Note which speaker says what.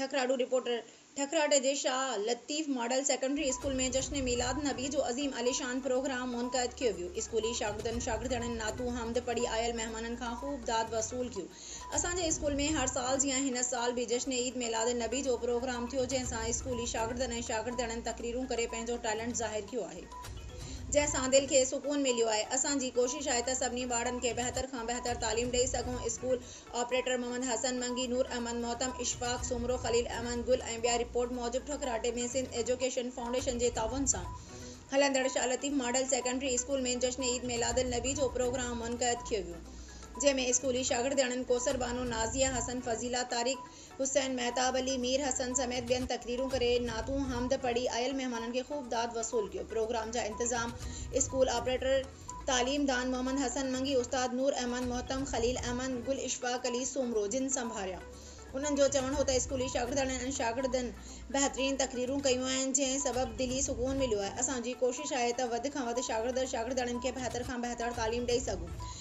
Speaker 1: ٺڪراڙو، reporter, ٺڪراٽ جي Shah Latif model secondary school ۾ جشن ميلاد نبي جو عظيم الشان پروگرام منعقد ڪيو ويو، اسڪولي شاگردن شاگردياڻين نعتون حمد پڙهي آيل مهمانن کان خوب داد وصول ڪيو، اسان جي اسڪول ۾ هر سال جيان هن سال به جشن عيد ميلاد نبي جو پروگرام ٿيو جنهن سان اسڪولي شاگردن ۽ شاگردياڻين تقريرون ڪري پنهنجو ٽيلنٽ ظاهر ڪيو آهي جنهن سان دل کي سڪون مليو آهي، اسان جي ڪوشش آهي ته سڀني ٻارڙن کي بهتر کان بهتر تعليم ڏئي سگهون، اسڪول. آپريٽر محمد حسن منگي، نور احمد محتم، اشفاق سومرو، خليل احمد گل ۽ ٻيا رپورٽ موجب ٺڪراٽي ۾ سنڌ ايجوڪيشن فائونڊيشن جي تعاون سان هلندڙ Shah Latif model secondary school ۾ جشن عيد ميلاد النبي جو پروگرام منقعد ٿيو ويو جنهن ۾ اسڪولي شاگردياڻين ڪوثر بانو، نازيه حسن، فضيلا طارق، حسين مهتاب علي، مير حسن سميت ٻين تقريرون ڪري، نعتون، حمد پڙهي آيل مهمانن کي خوب داد وصول ڪيو. پروگرام جا انتظام اسڪول آپريٽر تعليم دان محمد حسن منگي، استاد نور احمد محتم، خليل احمد، گل اشفاق علي سومرو جن سنڀاريا. انهن جو چوڻ هو ته اسڪولي شاگردياڻين ۽ شاگردن بهترين تقريرون ڪيون آهن جنهن سبب دلي سڪون مليو آهي. اسان جي ڪوشش آهي ته وڌ کان وڌ شاگرد ۽ شاگردياڻين کي بهتر کان بهتر تعليم ڏئي سگهون.